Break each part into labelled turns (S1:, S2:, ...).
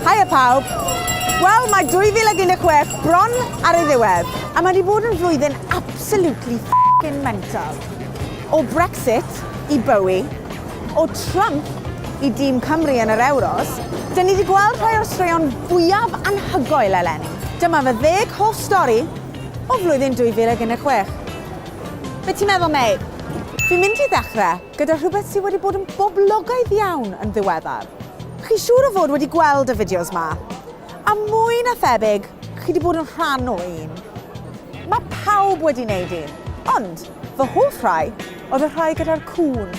S1: Haia pawb! Wel, mae 2016 bron ar ei ddiwedd, a mae wedi bod yn flwyddyn absolutely f***ing mental. O Brexit i Bowie, o Trump i dîm Cymru yn yr Euros, dyn ni wedi gweld rhai o'r straeon fwyaf anhygoel eleni. Dyma fy ddeg hoff stori o flwyddyn 2016. Be ti'n meddwl, mate? Fi'n mynd i ddechrau gyda rhywbeth sydd wedi bod yn boblogaidd iawn yn ddiweddar. Chi siŵr o fod wedi gweld y fideos ma? A mwy na thebyg, chi wedi bod yn rhan o un. Mae pawb wedi wneud un, ond fy hoff rai oedd y rhai gyda'r cŵn.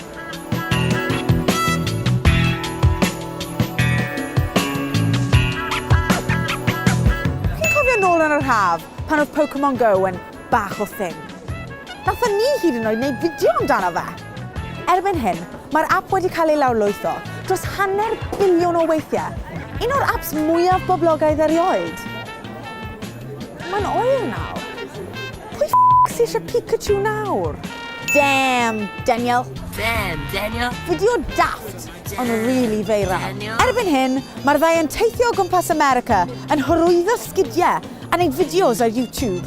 S1: nôl yn yr haf, pan oedd Pokemon Go yn bach o thing. Nathon ni hyd yn oed wneud fideo amdano fe! Erbyn hyn, mae'r ap wedi cael ei lawrlwytho dros hanner biliwn o weithiau, un o'r aps mwyaf boblogaidd erioed. Mae'n oer nawr. Pwy f*** sy eisiau Pikachu nawr? Damn, Daniel! Damn, Daniel!
S2: Fideo daft!
S1: Ond rili feiral. Erbyn hyn, mae'r ddau yn teithio o gwmpas America yn hyrwyddo sgidiau a wneud fideos ar YouTube.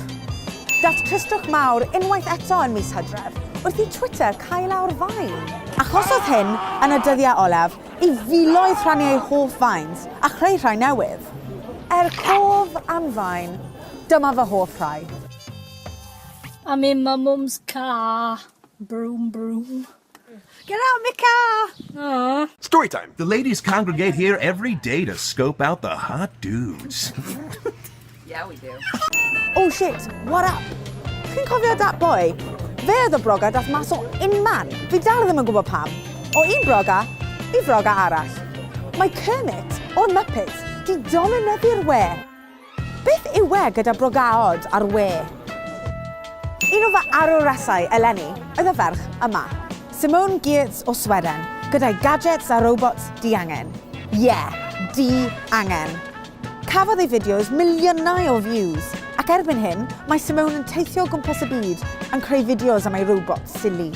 S1: Daeth tristwch mawr unwaith eto yn mis Hydref wrth i Twitter cau lawr Vine. Achosodd hyn, yn y dyddiau olaf, i filoedd rhannu eu hoff Vines a chreu rhai newydd. Er cof am Vine, dyma fy hoff rhai.
S2: Am un mae Mums Car, Broom Broom. Get out
S1: my car! Aww. Story
S2: time! The
S3: ladies congregate here every day to scope out the hot dudes.
S2: yeah, we do. Oh shit,
S1: what up? Chi'n cofio dat boy? Fe oedd y broga dath mas o unman. Fi dal ddim yn gwybod pam. O un broga i froga arall. Mae Kermit o'r Muppets di dominyddu'r we. Beth yw e gyda brogaod ar we? Un o fy arwresau eleni oedd y ferch yma. Simone Giertz o Sweden, gyda'i gadgets a robots diangen. Ie, di-angen. Cafodd ei fideos miliynau o views, ac erbyn hyn, mae Simone yn teithio o gwmpas y byd yn creu fideos am ei robots sili.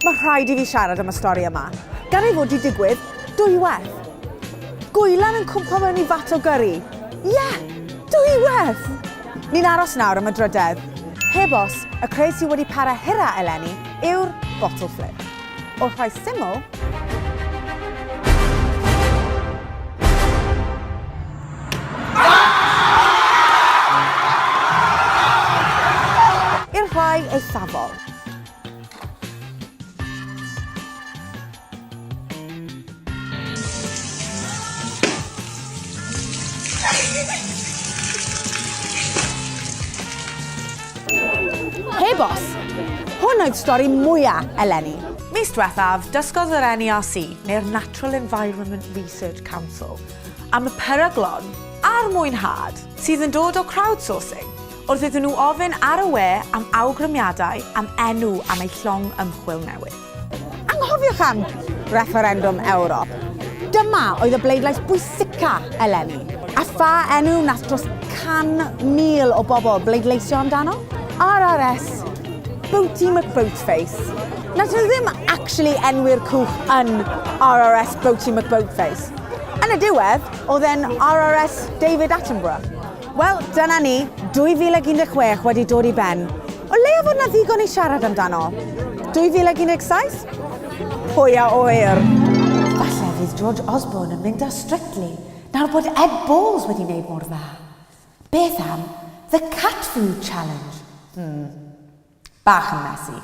S1: Mae rhaid i fi siarad am y stori yma. Gan ei fod di digwydd dwywaith. Gwylan yn cwmpo mewn i fat o gyrri. Ie! Yeah! Dwywaith! Ni'n aros nawr am y drydedd. Heb os, y creu sydd wedi para hira eleni yw'r bottle flip. Wrth rhoi syml, i'r rhai eithafol. Heb os! Hwn oedd stori mwyaf eleni. Mis diwethaf, dysgodd yr NERC, neu'r Natural Environment Research Council, am y peryglon a'r mwynhad sydd yn dod o crowdsourcing. Wrth iddyn nhw ofyn ar y we am awgrymiadau am enw am eu llong ymchwil newydd. Anghofiwch am refferendwm Ewrop. Dyma oedd y bleidlais bwysica eleni. A pha enw wnaeth dros 100,000 o bobl bleidleisio amdano? RRS, Boaty McBoatface. Wnaethon nhw ddim actually enwi'r cwch yn RRS Boaty McBoatface. Yn y diwedd, oedd e'n RRS David Attenborough. Wel, dyna ni, 2016 wedi dod i ben. O leia fod 'na ddigon i siarad amdano. 2017? Pwy a ŵyr? Falle fydd George Osborne yn mynd â Strictly nawr bod Ed Balls wedi wneud mor dda. Beth am The Cat Food Challenge? Hmm. Bach yn messy.